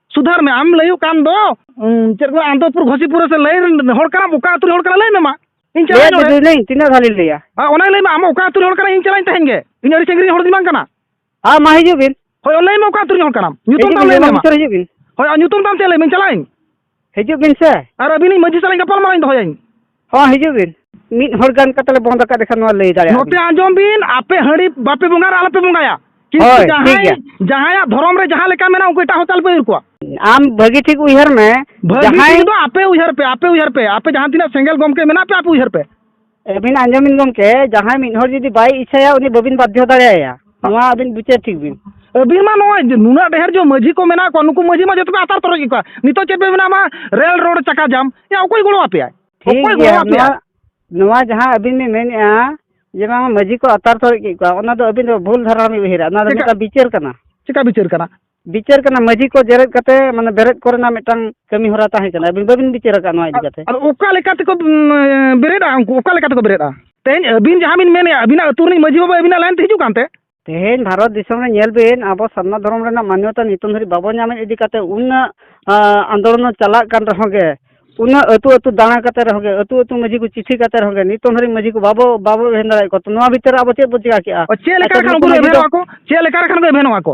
ᱥᱩᱫᱷᱟᱹᱨ ᱢᱮ ᱟᱢ ᱞᱟᱹᱭᱩᱜ ᱠᱟᱱ ᱫᱚ ᱪᱮᱫ ᱠᱚ ᱟᱱᱫᱚᱯᱩᱨ ᱜᱷᱚᱥᱤᱯᱩᱨ ᱥᱮ ᱞᱟᱹᱭ ᱦᱚᱲ ᱠᱟᱱᱟᱢ ᱚᱠᱟ ᱟᱹᱛᱩ ᱨᱮ ᱦᱚᱲ ᱠᱟᱱᱟ ᱞᱟᱹᱭ ᱢᱮ ᱢᱟ ᱤᱧ ᱪᱟᱞᱟᱜ ᱞᱟᱹᱭ ᱱᱚᱰᱮ ᱫᱟᱹᱧ ᱛᱤᱱᱟᱹᱜ ᱫᱷᱟᱣ ᱞᱤᱧ ᱞᱟᱹᱭᱟ ᱟᱨ ᱚᱱᱟ ᱞᱟᱹᱭ ᱢᱮ ᱟᱢ ᱚᱠᱟ ᱟᱹᱛᱩ ᱨᱮ ᱦᱚᱲ ᱠᱟᱱᱟ ᱤᱧ ᱪᱟᱞᱟᱜ ᱤᱧ ᱛᱟᱦᱮᱱ ᱜᱮ ᱤᱧ ᱟᱹᱰᱤ ᱥᱟᱺᱜᱤᱧ ᱨᱮᱱ ᱦᱚᱲ ᱫᱚ ᱵᱟᱝ ᱠᱟᱱᱟ ᱦᱮᱸ ᱢᱟ ᱦᱤᱡᱩᱜ ᱵᱤᱱ ᱦᱳᱭ ᱞᱟᱹᱭ ᱢᱮ ᱚᱠᱟ ᱟᱹᱛᱩ ᱨᱮᱱ ᱦᱚᱲ ᱠᱟᱱᱟᱢ ᱧᱩᱛᱩᱢ ᱦᱤᱡᱩᱜ ᱛᱟᱢ ᱵᱤᱱ ᱞᱟᱹᱭ ᱢᱮ ᱡᱚᱞᱟ ᱢᱟ ᱢᱩᱪᱟᱹᱫ ᱦᱤᱡᱩᱜ ᱵᱤᱱ ᱦᱳᱭ ᱟᱨ ᱧᱩᱛᱩᱢ ᱛᱟᱢ ᱪᱮᱫ ᱞᱟᱹᱭ ᱢᱮ ᱤᱧ ᱪᱟᱞᱟᱜ ᱟᱹᱧ ᱦᱤᱡᱩᱜ ᱵᱤᱱ ᱥᱮ ᱟᱨ ᱟᱹᱵᱤᱱᱤᱡ ᱢᱟᱹᱡᱷᱤ ᱥᱟᱞᱟᱜ ᱤᱧ ᱜᱟᱯᱟᱞᱢᱟᱨᱟᱣ ᱤᱧ ᱫᱚᱦᱚᱭᱟᱹᱧ ᱦᱚᱸ ᱦᱤᱡᱩᱜ ᱵᱤᱱ ᱢᱤᱫ ᱦᱚᱲ ᱜᱟᱱ ᱠᱟᱛᱮ ᱞᱮ ᱵᱚᱸᱫᱽ ᱟᱠᱟᱫ ᱮᱠᱷᱟᱱ ᱱᱚᱣᱟ ᱞᱟᱹᱭ ᱫᱟᱲᱮᱭᱟᱜᱼᱟ ᱱᱚᱛᱮ ᱟᱸᱡᱚᱢ ᱵᱤᱱ ᱟᱯᱮ ᱦᱟᱺᱰᱤ ᱵᱟᱯᱮ ᱵᱚᱸᱜᱟᱭᱟ ᱟᱞᱚ ᱯᱮ ᱵᱚᱸᱜᱟᱭᱟ ᱠᱤᱱᱛᱩ ᱦᱳᱭ, ᱴᱷᱤᱠ ᱡᱟᱦᱟᱸᱭ ᱜᱮᱭᱟ᱾ ᱡᱟᱦᱟᱸᱭᱟᱜ ᱫᱷᱚᱨᱚᱢ ᱨᱮ ᱡᱟᱦᱟᱸ ᱞᱮᱠᱟ ᱢᱮᱱᱟᱜᱼᱟ ᱩᱱᱠᱩ ᱮᱴᱟᱜ ᱦᱚᱲ ᱛᱟᱞ ᱯᱮ ᱩᱭᱩᱨ ᱠᱚᱣᱟ ᱟᱢ ᱵᱷᱟᱹᱜᱤ ᱴᱷᱤᱠ ᱩᱭᱦᱟᱹᱨ ᱢᱮ ᱵᱷᱟᱹᱜᱤ ᱡᱟᱦᱟᱸᱭ ᱴᱷᱤᱠ ᱫᱚ ᱟᱯᱮ ᱩᱭᱦᱟᱹᱨ ᱯᱮ ᱟᱯᱮ ᱩᱭᱦᱟᱹᱨ ᱯᱮ ᱟᱯᱮ ᱡᱟᱦᱟᱸ ᱛᱤᱱᱟᱹᱜ ᱥᱮᱸᱜᱮᱞ ᱜᱚᱢᱠᱮ ᱢᱮᱱᱟᱜ ᱯᱮ ᱟᱯᱮ ᱩᱭᱦᱟᱹᱨ ᱯᱮ ᱟᱹᱵᱤᱱ ᱟᱸᱡᱚᱢ ᱵᱤᱱ ᱜᱚᱢᱠᱮ ᱡᱟᱦᱟᱸᱭ ᱢᱤᱫ ᱦᱚᱲ ᱡᱩᱫᱤ ᱵᱟᱭ ᱤᱪᱪᱷᱟᱭᱟ ᱩᱱᱤ ᱵᱟᱹᱵᱤᱱ ᱵᱟᱫᱽᱫᱷᱚ ᱫᱟᱲᱮᱭᱟᱭᱟ ᱱᱚᱣᱟ ᱟᱹᱵᱤᱱ ᱵᱤᱪᱟᱹᱨ ᱴᱷᱤᱠ ᱵᱤᱱ ᱟᱹᱵᱤᱱ ᱢᱟ ᱱᱚᱣᱟ ᱱᱩᱱᱟᱹᱜ ᱰᱷᱮᱨ ᱡᱮ ᱢᱟᱹᱡᱷᱤ ᱠᱚ ᱢᱮᱱᱟᱜ ᱠᱚᱣᱟ ᱱᱩᱠᱩ ᱢᱟᱹᱡᱷᱤ ᱢᱟ ᱡᱚᱛᱚ ᱯᱮ ᱟᱛᱟᱨ ᱛᱚᱨᱚᱡ ᱜᱮ ᱠᱚᱣᱟ ᱱᱤᱛᱚᱜ ᱪᱮᱫ ᱯᱮ ᱢᱮᱱᱟ ᱢᱟ ᱨᱮᱞ ᱨᱳᱰ ᱪᱟᱠᱟ ᱡᱟᱢ ᱮ ᱚᱠᱚᱭ ᱜᱚᱲᱚ ᱟᱯᱮᱭᱟᱭ ᱴᱷᱤᱠ ᱚᱠᱚᱭ ᱜᱚᱲᱚ ᱜᱮᱭᱟ ᱟᱯᱮᱭᱟᱭ ᱱᱚᱣᱟ ᱱᱚᱣᱟ ᱡᱟᱦᱟᱸ ᱟᱹᱵᱤᱱ ᱵᱤᱱ ᱢᱮᱱᱮᱫᱼᱟ ᱡᱮ ᱵᱟᱝ ᱢᱟᱹᱡᱷᱤ ᱠᱚ ᱟᱛᱟᱨ ᱛᱚᱨᱚᱡ ᱠᱮᱫ ᱠᱚᱣᱟ ᱚᱱᱟ ᱫᱚ ᱟᱹᱵᱤᱱ ᱫᱚ ᱵᱷᱩᱞ ᱫᱷᱟᱨᱟ ᱵᱤᱱ ᱩᱭᱦᱟᱹᱨᱟ ᱚᱱᱟ ᱫᱚ ᱪᱮᱫᱟᱜ? ᱢᱤᱫᱴᱟᱝ ᱵᱤᱪᱟᱹᱨ ᱠᱟᱱᱟ ᱪᱮᱠᱟ ᱵᱤᱪᱟᱹᱨ ᱠᱟᱱᱟ ᱵᱤᱪᱟᱹᱨ ᱠᱟᱱᱟ ᱢᱟᱹᱡᱷᱤ ᱠᱚ ᱡᱮᱨᱮᱫ ᱠᱟᱛᱮ ᱢᱟᱱᱮ ᱵᱮᱨᱮᱫ ᱠᱚᱨᱮᱱᱟᱜ ᱢᱤᱫᱴᱟᱝ ᱠᱟᱹᱢᱤ ᱦᱚᱨᱟ ᱛᱟᱦᱮᱸ ᱠᱟᱱᱟ ᱟᱹᱵᱤᱱ ᱵᱟᱹᱵᱤᱱ ᱵᱤᱪᱟᱹᱨ ᱟᱠᱟᱫ ᱱᱚᱣᱟ ᱤᱫᱤ ᱠᱟᱛᱮ ᱟᱫᱚ ᱚᱠᱟ ᱞᱮᱠᱟ ᱛᱮᱠᱚ ᱩᱸ, ᱵᱮᱨᱮᱫᱼᱟ ᱩᱱᱠᱩ ᱚᱠᱟ ᱞᱮᱠᱟ ᱛᱮᱠᱚ ᱵᱮᱨᱮᱫᱼᱟ ᱛᱮᱦᱮᱧ ᱟᱹᱵᱤᱱ ᱡᱟᱦᱟᱸ ᱵᱤᱱ ᱢᱮᱱᱮᱫᱼᱟ ᱟᱹᱵᱤᱱᱟᱜ ᱟᱹᱛᱩ ᱨᱤᱱᱤᱡ ᱢᱟᱹᱡᱷᱤ ᱵᱟᱵᱟ ᱟᱹᱵᱤᱱᱟᱜ ᱞᱟᱭᱤᱱ ᱛᱮ ᱦᱤᱡᱩᱜ ᱠᱟᱱᱛᱮ ᱛᱮᱦᱮᱧ ᱵᱷᱟᱨᱚᱛ ᱫᱤᱥᱚᱢ ᱨᱮ ᱧᱮᱞ ᱵᱤᱱ ᱟᱵᱚ ᱥᱟᱨᱱᱟ ᱫᱷᱚᱨᱚᱢ ᱨᱮᱱᱟᱜ ᱢᱟᱱᱭᱚᱛᱟ ᱱᱤᱛᱚᱝ ᱫᱷᱟᱹᱨᱤᱡ ᱵᱟᱵᱚ ᱧᱟᱢᱮᱫ ᱤᱫᱤ ᱠᱟᱛᱮ ᱩᱱᱟᱹᱜ ᱟᱸ, ᱟᱱᱫᱳᱞᱚᱱ ᱪᱟᱞᱟᱜ ᱠᱟᱱ ᱨᱮᱦᱚᱸ ᱜᱮ ᱩᱱᱟᱹᱜ ᱟᱹᱛᱩ ᱟᱹᱛᱩ ᱫᱟᱬᱟ ᱠᱟᱛᱮ ᱨᱮᱦᱚᱸ ᱜᱮ ᱟᱹᱛᱩ ᱟᱹᱛᱩ ᱢᱟᱹᱡᱷᱤ ᱠᱚ ᱪᱤᱴᱷᱤ ᱠᱟᱛᱮ ᱨᱮᱦᱚᱸ ᱜᱮ ᱱᱤᱛᱚᱝ ᱫᱷᱟᱹᱨᱤᱡ ᱢᱟᱹᱡᱷᱤ ᱠᱚ ᱵᱟᱵᱚ ᱵᱟᱵᱚ ᱮᱵᱷᱮᱱ ᱫᱟᱲᱮᱭᱟᱫ ᱠᱚᱣᱟ ᱛᱚ ᱱᱚᱣᱟ ᱵᱷᱤᱛᱤᱨ ᱨᱮ ᱟᱵᱚ ᱪᱮᱫ ᱵᱚ ᱪᱮᱠᱟ ᱠᱮᱜᱼᱟ ᱚ, ᱪᱮᱫ ᱞᱮᱠᱟ ᱟᱪᱪᱷᱟ, ᱞᱮᱠᱷᱟᱱ ᱱᱩᱠᱩ ᱩᱱᱠᱩ ᱢᱟᱹᱡᱷᱤ ᱮᱵᱷᱮᱱᱚᱜᱼᱟ ᱫᱚ- ᱠᱚ ᱪᱮᱫ ᱞᱮᱠᱟ ᱞᱮᱠᱷᱟᱱ ᱠᱚ ᱮᱵᱷᱮᱱᱚᱜᱼᱟ ᱠᱚ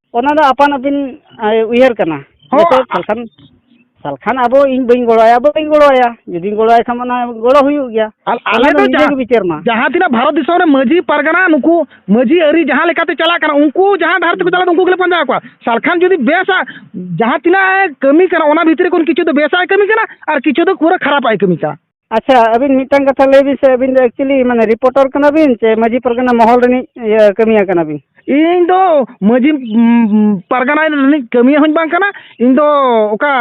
ᱚᱱᱟ ᱫᱚ ᱟᱯᱟᱱ ᱟᱹᱯᱤᱱ ᱩᱭᱦᱟᱹᱨ ᱠᱟᱱᱟ ᱱᱤᱛᱚᱜ ᱥᱟᱞᱠᱷᱟᱱ ᱥᱟᱞᱠᱷᱟᱱ ᱟᱵᱚ ᱤᱧ ᱵᱟᱹᱧ ᱜᱚᱲᱚᱣᱟᱭᱟ ᱵᱟᱹᱧ ᱜᱚᱲᱚᱣᱟᱭᱟ ᱡᱩᱫᱤᱧ ᱜᱚᱲᱚᱣᱟᱭ ᱠᱷᱟᱱ ᱚᱱᱟ ᱜᱚᱲᱚ ᱦᱩᱭᱩᱜ ᱜᱮᱭᱟ ᱟᱞᱮ ᱫᱚ ᱱᱤᱡᱮ ᱜᱮ ᱵᱤᱪᱟᱹᱨ ᱢᱟ ᱡᱟᱦᱟᱸ ᱛᱤᱱᱟᱹᱜ ᱵᱷᱟᱨᱚᱛ ᱫᱤᱥᱚᱢ ᱨᱮ ᱢᱟᱹᱡᱷᱤ ᱯᱟᱨᱜᱟᱱᱟ ᱱᱩᱠᱩ ᱢᱟᱹᱡᱷᱤ ᱟᱹᱨᱤ ᱡᱟᱦᱟᱸ ᱞᱮᱠᱟᱛᱮ ᱪᱟᱞᱟᱜ ᱠᱟᱱᱟ ᱩᱱᱠᱩ ᱡᱟᱦᱟᱸ ᱰᱟᱦᱟᱨ ᱛᱮᱠᱚ ᱪᱟᱞᱟᱜ ᱩᱱᱠᱩ ᱜᱮᱞᱮ ᱯᱟᱸᱡᱟ ᱠᱚᱣᱟ ᱥᱟᱞᱠᱷᱟᱱ ᱡᱩᱫᱤ ᱵᱮᱥᱟ ᱡᱟᱦᱟᱸ ᱛᱤᱱᱟᱹᱜ ᱠᱟᱹᱢᱤ ᱠᱟᱱᱟ ᱚᱱᱟ ᱵᱷᱤᱛᱨᱤ ᱠᱷᱚᱱ ᱠᱤᱪᱷᱩ ᱫᱚ ᱵᱮᱥᱟᱜ ᱠᱟᱹᱢᱤ ᱠᱟᱱᱟ ᱟᱨ ᱠᱤᱪᱷᱩ ᱫᱚ ᱯᱩᱨᱟᱹ ᱠᱷᱟᱨᱟᱯᱟᱜ ᱠᱟᱹᱢᱤ ᱠᱟᱱᱟ ᱟᱪᱪᱷᱟ ᱟᱹᱵᱤᱱ ᱢᱤᱫᱴᱟᱝ ᱠᱟᱛᱷᱟ ᱞᱟᱹᱭ ᱵᱤᱱ ᱥᱮ ᱟᱹᱵᱤᱱ ᱫᱚ ᱮᱠᱪᱩᱞᱤ ᱢᱟᱱᱮ ᱨᱤᱯᱳᱴᱟᱨ ᱠᱟᱱᱟ ᱵᱤᱱ ᱥᱮ ᱢᱟᱹᱡᱷᱤ ᱯᱟᱨᱜᱟᱱᱟ ᱢᱚᱦᱚᱞ ᱨᱤᱱᱤᱡ ᱤᱭᱟᱹ ᱠᱟᱹᱢᱤᱭᱟᱹ ᱠᱟᱱᱟ ᱵᱤᱱ ᱤᱧ ᱫᱚ ᱢᱟᱹᱡᱷᱤ ᱯᱟᱨᱜᱟᱱᱟ ᱨᱤᱱᱤᱡ ᱠᱟᱹᱢᱤᱭᱟᱹ ᱦᱚᱸᱧ ᱵᱟᱝ ᱠᱟᱱᱟ ᱤᱧ ᱫᱚ ᱚᱠᱟ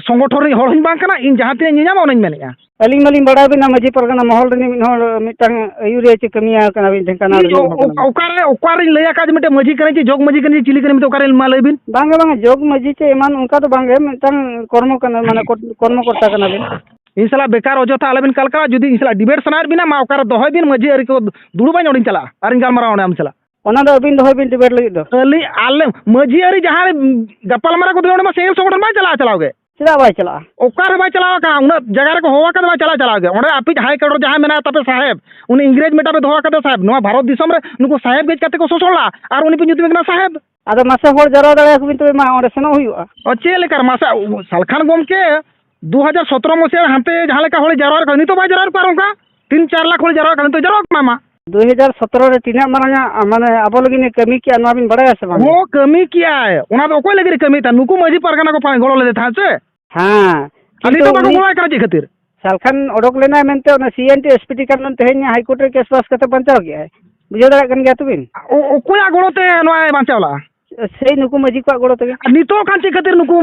ᱥᱚᱝᱜᱚᱴᱷᱚᱱ ᱨᱤᱱᱤᱡ ᱦᱚᱲ ᱦᱚᱸᱧ ᱵᱟᱝ ᱠᱟᱱᱟ ᱤᱧ ᱡᱟᱦᱟᱸ ᱛᱤᱱᱟᱹᱜ ᱤᱧ ᱧᱮᱞ ᱧᱟᱢᱟ ᱚᱱᱟᱧ ᱢᱮᱱᱮᱫᱼᱟ ᱟᱹᱞᱤᱧ ᱢᱟᱞᱤᱧ ᱵᱟᱲᱟᱭ ᱵᱤᱱᱟ ᱢᱟᱹᱡᱷᱤ ᱯᱟᱨᱜᱟᱱᱟ ᱢᱚᱦᱚᱞ ᱨᱤᱱᱤᱡ ᱢᱤᱫ ᱦᱚᱲ ᱢᱤᱫᱴᱟᱝ ᱟᱹᱭᱩᱨᱤᱭᱟᱹ ᱪᱮ ᱠᱟᱹᱢᱤᱭᱟᱹ ᱠᱟᱱᱟ ᱵᱤᱱ ᱰᱷᱮᱝᱠᱟᱱᱟᱞ ᱤᱧ ᱨᱤᱱᱤᱡ ᱦᱚᱲ ᱠᱟᱱᱟ ᱵᱤᱱ ᱚᱠᱟᱨᱮ ᱚᱠᱟᱨᱤᱧ ᱞᱟᱹᱭ ᱟᱠᱟᱫ ᱡᱮ ᱢᱤᱫᱴᱮᱱ ᱢᱟᱹᱡᱷᱤ ᱠᱟᱹᱱᱟᱹᱧ ᱪᱮ ᱡᱚᱜᱽ ᱢᱟᱹᱡᱷᱤ ᱠᱟᱹᱱᱟᱹᱧ ᱪᱮ ᱪᱤᱞᱤ ᱠᱟᱹᱱᱟᱹᱧ ᱢᱮᱱᱛᱮ ᱚᱠᱟᱨᱮ ᱢᱟ ᱞᱟᱹᱭ ᱵᱤᱱ ᱵᱟᱝᱟ ᱵᱟᱝᱟ ᱡᱚᱜᱽ ᱢᱟᱹᱡᱷᱤ ᱪᱮ ᱮᱢᱟᱱ ᱚᱱᱠᱟ ᱫᱚ ᱵᱟᱝᱜᱮ ᱢᱤᱫᱴᱟᱝ ᱠᱚᱨᱢᱚ ᱠᱟᱱᱟ ᱢᱟᱱᱮ ᱠᱚᱨᱢᱚ ᱠᱚᱨᱛᱟ ᱠᱟᱱᱟ ᱵᱤᱱ ᱤᱧ ᱥᱟᱞᱟᱜ ᱵᱮᱠᱟᱨ ᱚᱡᱚᱛᱷᱟ ᱟᱞᱚᱵᱤᱱ ᱠᱟᱞᱠᱟᱣᱟ ᱡᱩᱫᱤ ᱤᱧ ᱥᱟᱞᱟᱜ ᱰᱤᱵᱮᱴ ᱥᱟᱱᱟᱭᱮᱫ ᱵᱤᱱᱟ ᱢᱟ ᱚᱠᱟᱨᱮ ᱫᱚᱦᱚᱭ ᱵᱤᱱ ᱢᱟᱹᱡᱷᱤ ᱟᱹᱨᱤ ᱠᱚ ᱫᱩᱲᱩᱵᱟᱹᱧ ᱚᱸᱰᱮᱧ ᱪᱟᱞᱟᱜᱼᱟ ᱟᱨᱤᱧ ᱜᱟᱞᱢᱟᱨᱟᱣᱟ ᱚᱸᱰᱮ ᱟᱢ ᱥᱟᱞᱟᱜ ᱚᱱᱟ ᱫᱚ ᱟᱹᱵᱤᱱ ᱫᱚᱦᱚᱭ ᱵᱤᱱ ᱰᱤᱵᱮᱴ ᱞᱟᱹᱜᱤᱫ ᱫᱚ ᱟᱹᱞᱤᱧ ᱟᱞᱮ ᱢᱟᱹᱡᱷᱤ ᱟᱹᱨᱤ ᱡᱟᱦᱟᱸ ᱜᱟᱯᱟᱞᱢᱟᱨᱟᱣ ᱠᱚᱫᱚ ᱚᱸᱰᱮ ᱢᱟ ᱥᱮᱸᱜᱮᱞ ᱥᱚᱝᱜᱚᱴᱷᱚᱱ ᱵᱟᱭ ᱪᱟᱞᱟᱜᱼᱟ ᱪᱟᱞᱟᱣ ᱜᱮ ᱪᱮᱫᱟᱜ ᱵᱟᱭ ᱪᱟᱞᱟᱜᱼᱟ ᱚᱠᱟᱨᱮ ᱵᱟᱭ ᱪᱟᱞᱟᱣ ᱟᱠᱟᱱᱟ ᱩᱱᱟᱹᱜ ᱡᱟᱭᱜᱟ ᱨᱮᱠᱚ ᱦᱚᱦᱚ ᱟᱠᱟᱫᱟ ᱵᱟᱭ ᱪᱟᱞᱟᱣ ᱪᱟᱞᱟᱣ ᱜᱮ ᱚᱸᱰᱮ ᱟᱯᱮᱭᱤᱡ ᱦᱟᱭ ᱠᱟᱣᱩᱱᱴ ᱡᱟᱦᱟᱸᱭ ᱢᱮᱱᱟᱭ ᱛᱟᱯᱮ ᱥᱟᱦᱮᱵᱽ ᱩᱱᱤ ᱤᱝᱨᱮᱡᱽ ᱢᱮᱴᱟᱯᱮ ᱫᱚᱦᱚ ᱟᱠᱟᱫᱮ ᱥᱟᱦᱮᱵᱽ ᱱᱚᱣᱟ ᱵᱷᱟᱨᱚᱛ ᱫᱤᱥᱚᱢ ᱨᱮ ᱱᱩᱠᱩ ᱥᱟᱦᱮᱵᱽ ᱜᱮᱡ ᱠᱟᱛᱮ ᱠᱚ ᱥᱚᱥᱚᱲ ᱞᱟᱜᱼᱟ ᱟᱨ ᱩᱱᱤ ᱯᱮ ᱧᱩᱛᱩᱢᱮ ᱠᱟᱱᱟ ᱥᱟᱦᱮᱵᱽ ᱟᱫᱚ ᱢᱟᱥᱮ ᱦᱚᱲ ᱡᱟᱣᱨᱟ ᱫᱟᱲᱮᱭᱟᱠᱚ ᱵᱤᱱ ᱛᱚᱵᱮ ᱢᱟ ᱚᱸᱰᱮ ᱥᱮᱱᱚᱜ ᱦᱩᱭᱩᱜᱼᱟ ᱚ ᱪᱮᱫ ᱞᱮᱠᱟ ᱢᱟᱥᱮ ᱥᱟᱞᱠᱷᱟᱱ ᱜᱚᱢᱠᱮ ᱫᱩ ᱦᱟᱡᱟᱨ ᱥᱚᱛᱨᱚ ᱢᱚᱥᱤᱭᱟ ᱨᱮ ᱦᱟᱱᱛᱮ ᱡᱟᱦᱟᱸ ᱞᱮᱠᱟ ᱦᱚᱲ ᱡᱟᱣᱨᱟ ᱠᱟᱱᱟ ᱱᱤᱛᱚᱜ ᱵᱟᱭ ᱡᱟᱣᱨᱟ ᱠᱚᱣᱟ ᱟᱨ ᱚᱱᱠᱟ ᱛᱤᱱ ᱪᱟᱨ ᱞᱟᱠᱷ ᱦᱚᱲ ᱡᱟᱣᱨᱟ ᱠᱟᱱᱟ ᱱᱤᱛᱚᱜ ᱡᱟᱣᱨᱟ ᱠᱚᱢᱟ ᱢᱟ ᱫᱩ ᱦᱟᱡᱟᱨ ᱥᱚᱛᱨᱚ ᱨᱮ ᱛᱤᱱᱟᱹᱜ ᱢᱟᱨᱟᱝ ᱟᱜ ᱢᱟᱱᱮ ᱟᱵᱚ ᱞᱟᱹᱜᱤᱫ ᱮ ᱠᱟᱹᱢᱤ ᱠᱮᱜᱼᱟ ᱱᱚᱣᱟ ᱵᱤᱱ ᱵᱟᱲᱟᱭᱟ ᱥᱮ ᱵᱟᱝ ᱦᱚᱸ ᱠᱟᱹᱢᱤ ᱠᱮᱜᱼᱟᱭ ᱚᱱᱟ ᱫᱚ ᱚᱠᱚᱭ ᱞᱟᱹᱜᱤᱫ ᱮ ᱠᱟᱹᱢᱤᱭᱮᱫ ᱛᱟᱦᱮᱸᱫ ᱱᱩᱠᱩ ᱢᱟᱺᱡᱷᱤ ᱯᱟᱨᱜᱟᱱᱟ ᱠᱚ ᱜᱚᱲᱚ ᱞᱮᱫᱮ ᱛᱟᱦᱮᱸᱫ ᱥᱮ ᱦᱮᱸ ᱟᱹᱞᱤᱧ ᱫᱚ ᱵᱟᱠᱚ ᱜᱚᱲᱚ ᱟᱭ ᱠᱟᱱᱟ ᱪᱮᱫ ᱠᱷᱟᱹᱛᱤᱨ ᱥᱟᱞᱠᱷᱟᱱ ᱚᱰᱚᱠ ᱞᱮᱱᱟᱭ ᱢᱮᱱᱛᱮ ᱚᱱᱟ C N T S P T card ᱛᱮᱦᱮᱧ ᱦᱟᱭᱠᱳᱨᱴ ᱨᱮ ᱠᱮᱥ ᱯᱟᱥ ᱠᱟᱛᱮ ᱵᱟᱧᱪᱟᱣ ᱠᱮᱫᱼᱟᱭ ᱵᱩᱡᱷᱟᱹᱣ ᱫᱟᱲᱮᱭᱟᱜ ᱠᱟᱱ ᱜᱮᱭᱟ ᱛᱚᱵᱤᱱ ᱚᱠᱚᱭᱟᱜ ᱜᱚᱲᱚ ᱛᱮ ᱱᱚᱣᱟᱭ ᱵᱟᱧᱪᱟᱣ ᱞᱟᱜᱼᱟ ᱥᱮᱭ ᱱᱩᱠᱩ ᱢᱟᱹᱡᱷᱤ ᱠᱚᱣᱟᱜ ᱜᱚᱲᱚ ᱛᱮᱜᱮ ᱱᱤᱛᱚᱜ ᱠᱷᱟᱱ ᱪᱮᱫ ᱠᱷᱟᱹᱛᱤᱨ ᱱᱩᱠᱩ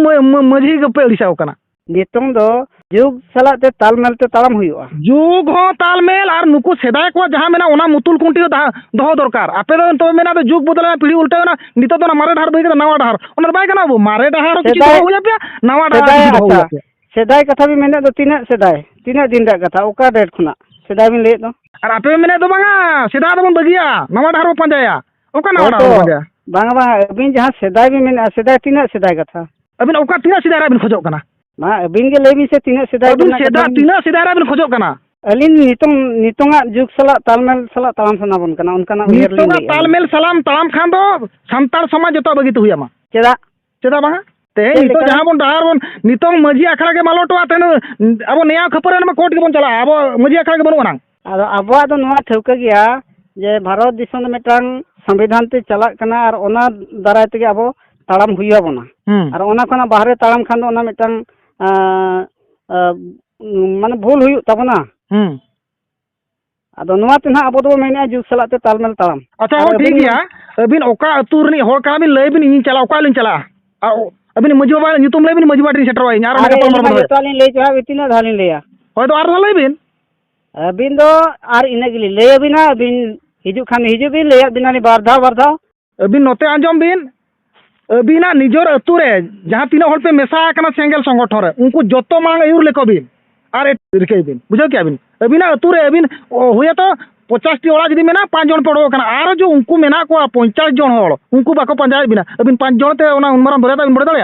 ᱢᱟᱹᱡᱷᱤ ᱜᱮᱯᱮ ᱟᱹᱲᱤᱥᱟᱣ ᱠᱟᱱᱟ ᱱᱤᱛᱚᱝ ᱫᱚ ᱡᱩᱜᱽ ᱥᱟᱞᱟᱜ ᱛᱮ ᱛᱟᱞᱢᱮᱞ ᱛᱮ ᱛᱟᱲᱟᱢ ᱦᱩᱭᱩᱜᱼᱟ ᱡᱩᱜᱽ ᱦᱚᱸ ᱛᱟᱞᱢᱮᱞ ᱟᱨ ᱱᱩᱠᱩ ᱥᱮᱫᱟᱭ ᱠᱚᱣᱟᱜ ᱡᱟᱦᱟᱸ ᱢᱮᱱᱟᱜᱼᱟ ᱚᱱᱟ ᱢᱩᱛᱩᱞ ᱠᱷᱩᱱᱴᱤ ᱦᱚᱸ ᱫᱚᱦᱚ ᱫᱚᱨᱠᱟᱨ ᱟᱯᱮ ᱫᱚ ᱱᱤᱛᱚᱜ ᱢᱮᱱᱟᱜ ᱫᱚ ᱡᱩᱜᱽ ᱵᱚᱫᱚᱞᱮᱱᱟ ᱯᱤᱲᱦᱤ ᱩᱞᱴᱟᱹᱣᱮᱱᱟ ᱱᱤᱛᱚᱜ ᱫᱚ ᱢᱟᱨᱮ ᱰᱟᱦᱟᱨ ᱵᱟᱹᱭ ᱠᱟᱛᱮ ᱱᱟᱣᱟ ᱰᱟᱦᱟᱨ ᱚᱱᱟ ᱵᱟᱭ ᱜᱟᱱᱚᱜ ᱟᱵᱚ ᱢᱟᱨᱮ ᱰᱟᱦᱟᱨ ᱠᱤᱪᱷᱩ ᱫᱚᱦᱚ ᱦᱩᱭ ᱟᱯᱮᱭᱟ ᱱᱟᱣᱟ ᱰᱟᱦᱟᱨ ᱠᱤᱪᱷᱩ ᱫᱚᱦᱚ ᱦᱩᱭ ᱟᱯᱮᱭᱟ ᱥᱮᱫᱟᱭ ᱠᱟᱛᱷᱟ ᱵᱤᱱ ᱢᱮᱱᱮᱫ ᱫᱚ ᱛᱤᱱᱟᱹᱜ ᱥᱮᱫᱟᱭ ᱛᱤᱱᱟᱹᱜ ᱫᱤᱱ ᱨᱮᱭᱟᱜ ᱠᱟᱛᱷᱟ ᱚᱠᱟ ᱰᱮᱴ ᱠᱷᱚᱱᱟᱜ ᱥᱮᱫᱟᱭ ᱵᱤᱱ ᱞᱟᱹᱭᱮᱫ ᱫᱚ ᱟᱨ ᱟᱯᱮ ᱢᱮᱱᱮᱫ ᱫᱚ ᱵᱟᱝᱟ ᱥᱮᱫᱟᱭ ᱫᱚᱵᱚᱱ ᱵᱟᱹᱜᱤᱭᱟ ᱱᱟᱣᱟ ᱰᱟᱦᱟᱨ ᱵᱚᱱ ᱯᱟᱸᱡᱟᱭᱟ ᱚᱠᱟ ᱱᱟᱣᱟ ᱰᱟᱦᱟᱨ ᱵᱚᱱ ᱯᱟᱸᱡᱟᱭᱟ ᱵᱟᱝᱟ ᱵᱟᱝᱟ ᱟᱹᱵᱤᱱ ᱡᱟᱦᱟᱸ ᱥᱮᱫᱟᱭ ᱵᱤᱱ ᱢᱮᱱᱮᱫᱼᱟ ᱥᱮᱫᱟᱭ ᱛᱤᱱᱟᱹᱜ ᱥᱮᱫᱟᱭ ᱠᱟᱛᱷᱟ ᱟᱹᱵᱤᱱ ᱚᱠᱟ ᱛᱤᱱᱟᱹᱜ ᱥᱮᱫᱟᱭ ᱨᱮᱭᱟᱜ ᱵᱤᱱ ᱠᱷᱚᱡᱚᱜ ᱠᱟᱱᱟ ᱢᱟ ᱟᱹᱵᱤᱱ ᱜᱮ ᱞᱟᱹᱭ ᱵᱤᱱ ᱥᱮ ᱛᱤᱱᱟᱹᱜ ᱥᱮᱫᱟᱭ ᱟᱹᱵᱤᱱ ᱨᱮᱱᱟᱜ ᱥᱮᱫᱟᱭ ᱠᱟᱛᱷᱟ ᱵᱤᱱ- ᱛᱤᱱᱟᱹᱜ ᱥᱮᱫᱟᱭ ᱨᱮ ᱵᱮᱱ ᱠᱷᱚᱡᱚᱜ ᱠᱟᱱᱟ ᱟᱹᱞᱤᱧ ᱱᱤᱛᱚᱝ ᱱᱤᱛᱚᱝᱟᱜ ᱡᱩᱜᱽ ᱥᱟᱞᱟᱜ ᱛᱟᱞᱢᱮᱞ ᱥᱟᱞᱟᱜ ᱛᱟᱲᱟᱢ ᱥᱟᱱᱟ ᱵᱚᱱ ᱠᱟᱱᱟ ᱚᱱᱠᱟᱱᱟᱜ ᱩᱭᱦᱟᱹᱨ ᱞᱤᱧ ᱱᱤᱛᱚᱜᱟᱜ ᱞᱟᱹᱭᱮᱫᱼᱟ᱾ ᱛᱟᱞᱢᱮᱞ ᱥᱟᱞᱟᱢ ᱛᱟᱲᱟᱢ ᱠᱷᱟᱱ ᱫᱚ ᱥᱟᱱᱛᱟᱲ ᱥᱚᱢᱟᱡᱽ ᱡᱚᱛᱚ ᱵᱟᱹᱜᱤ ᱛᱮ ᱦᱩᱭᱟᱢᱟ ᱪᱮᱫᱟᱜ ᱪᱮᱫᱟᱜ ᱵᱟᱝᱟ ᱛᱮᱦᱮᱧ ᱪᱮᱫ ᱱᱤᱛᱚᱜ ᱞᱮᱠᱟ? ᱡᱟᱦᱟᱸ ᱵᱚᱱ ᱰᱟᱦᱟᱨ ᱵᱚᱱ ᱱᱤᱛᱚᱝ ᱢᱟᱺᱡᱷᱤ ᱟᱠᱷᱲᱟ ᱜᱮ ᱢᱟᱞᱚᱴᱚᱜᱼᱟ ᱛᱮᱦᱮᱧ ᱟᱵᱚ ᱱᱮᱭᱟᱣ ᱠᱷᱟᱹᱯᱟᱹᱨᱤ ᱨᱮᱢᱟ ᱠᱳᱨᱴ ᱜᱮᱵᱚᱱ ᱪᱟᱞᱟᱜᱼᱟ ᱟᱵᱚ ᱢᱟᱺᱡᱷᱤ ᱟᱠᱷᱲᱟ ᱜᱮ ᱵᱟᱹᱱᱩᱜ ᱟᱱᱟᱝ ᱟᱫᱚ ᱟᱵᱚᱣᱟᱜ ᱫᱚ ᱱᱚᱣᱟ ᱴᱷᱟᱹᱣᱠᱟᱹ ᱜᱮᱭᱟ ᱡᱮ ᱵᱷᱟᱨᱚᱛ ᱫᱤᱥᱚᱢ ᱫᱚ ᱢᱤᱫᱴᱟᱝ ᱥᱚᱝᱵᱤᱫᱷᱟᱱ ᱛᱮ ᱪᱟᱞᱟᱜ ᱠᱟᱱᱟ ᱟᱨ ᱚᱱᱟ ᱫᱟᱨᱟᱭ ᱛᱮᱜᱮ ᱟᱵᱚ ᱛᱟᱲᱟᱢ ᱦᱩᱭ ᱟᱵᱚᱱᱟ ᱟᱨ ᱚᱱᱟ ᱠᱷᱚᱱᱟᱜ ᱵᱟᱦᱨᱮ ᱛᱟᱲᱟᱢ ᱠᱷᱟᱱ ᱫᱚ ᱚᱱᱟ ᱢᱤᱫᱴᱟᱝ ᱢᱟᱱᱮ ᱵᱷᱩᱞ ᱦᱩᱭᱩᱜ ᱛᱟᱵᱚᱱᱟ ᱟᱫᱚ ᱱᱚᱣᱟ ᱛᱮ ᱱᱟᱦᱟᱜ ᱟᱵᱚ ᱫᱚᱵᱚ ᱢᱮᱱᱮᱫᱼᱟ ᱡᱩᱜᱽ ᱥᱟᱞᱟᱜ ᱛᱮ ᱛᱟᱞᱢᱮᱞ ᱛᱟᱲᱟᱢ ᱟᱪᱪᱷᱟ ᱦᱚᱸ ᱴᱷᱤᱠ ᱜᱮᱭᱟ ᱟᱹᱵᱤᱱ ᱚᱠᱟ ᱟᱹᱛᱩ ᱨᱤᱱᱤᱡ ᱦᱚᱲ ᱠᱟᱱᱟ ᱵᱤᱱ ᱞᱟᱹᱭ ᱵᱤᱱ ᱤᱧ ᱪᱟᱞᱟᱜᱼᱟ ᱚᱠᱟ ᱞᱤᱧ ᱪᱟᱞᱟᱜᱼᱟ ᱟᱹᱵᱤᱱ ᱢᱟᱹᱡᱷᱤ ᱵᱟᱵᱟ ᱧᱩᱛᱩᱢ ᱞᱟᱹᱭ ᱵᱤᱱ ᱢᱟᱹᱡᱷᱤ ᱵᱟᱵᱟ ᱴᱷᱮᱱ ᱥᱮᱴᱮᱨᱚᱜᱼᱟ ᱤᱧ ᱟᱨ ᱚᱸᱰᱮ ᱜᱟᱯᱟᱞᱢᱟᱨᱟᱣ ᱵᱚᱱ ᱫᱚᱦᱚᱭᱟ ᱡᱚᱛᱚ ᱞᱤᱧ ᱞᱟᱹᱭ ᱪᱟᱵᱟ ᱛᱤᱱᱟᱹᱜ ᱫᱷᱟᱣ ᱞᱤᱧ ᱞᱟᱹᱭᱟ ᱦᱳᱭ ᱫᱚ ᱟᱨ ᱫᱷᱟᱣ ᱞᱟᱹᱭ ᱵᱤᱱ ᱟᱹᱵᱤᱱ ᱫᱚ ᱟᱨ ᱤᱱᱟᱹ ᱜᱮᱞᱤᱧ ᱞᱟᱹᱭ ᱟᱹᱵᱤᱱᱟ ᱟᱹᱵᱤᱱ ᱦᱤᱡᱩᱜ ᱠᱷᱟᱱ ᱦᱤᱡᱩᱜ ᱵᱤᱱ ᱞᱟᱹᱭᱟᱫ ᱵᱤᱱᱟᱞᱤᱧ ᱵᱟᱨ ᱫᱷᱟᱣ ᱵᱟᱨ ᱫᱷᱟᱣ ᱟᱹᱵᱤᱱ ᱱᱚᱛᱮ ᱟᱸᱡᱚᱢ ᱵᱤᱱ ᱟᱹᱵᱤᱱᱟᱜ ᱱᱤᱡᱚᱨ ᱟᱹᱛᱩ ᱨᱮ ᱡᱟᱦᱟᱸ ᱛᱤᱱᱟᱹᱜ ᱦᱚᱲ ᱯᱮ ᱢᱮᱥᱟ ᱟᱠᱟᱱᱟ ᱥᱮᱸᱜᱮᱞ ᱥᱚᱝᱜᱚᱴᱷᱚᱱ ᱨᱮ ᱩᱱᱠᱩ ᱡᱚᱛᱚ ᱢᱟᱲᱟᱝ ᱟᱹᱭᱩᱨ ᱞᱮᱠᱚ ᱵᱤᱱ ᱟᱨ ᱨᱤᱠᱟᱹᱭ ᱵᱤᱱ ᱵᱩᱡᱷᱟᱹᱣ ᱠᱮᱜᱼᱟ ᱵᱤᱱ ᱟᱹᱵᱤᱱᱟᱜ ᱟᱹᱛᱩ ᱨᱮ ᱟᱹᱵᱤᱱ ᱦᱩᱭᱟᱛᱚ ᱯᱚᱪᱟᱥᱴᱤ ᱚᱲᱟᱜ ᱡᱩᱫᱤ ᱢᱮᱱᱟᱜᱼᱟ ᱯᱟᱸᱪ ᱡᱚᱱ ᱯᱮ ᱚᱰᱚᱠ ᱟᱠᱟᱱᱟ ᱟᱨᱚ ᱡᱮ ᱩᱱᱠᱩ ᱢᱮᱱᱟᱜ ᱠᱚᱣᱟ ᱯᱚᱧᱪᱟᱥ ᱡᱚᱱ ᱦᱚᱲ ᱩᱱᱠᱩ ᱵᱟᱠᱚ ᱯᱟᱸᱡᱟᱭᱮᱫ ᱵᱤᱱᱟ ᱟᱹᱵᱤᱱ ᱯᱟᱸᱪ ᱡᱚᱱ ᱛᱮ ᱚᱱᱟ ᱩᱱ ᱢᱟᱨᱟᱝ ᱫᱚᱨᱭᱟ ᱫᱟᱜ ᱵᱤᱱ ᱵᱚᱲᱮ ᱫᱟᱲᱮᱭᱟᱜᱼᱟ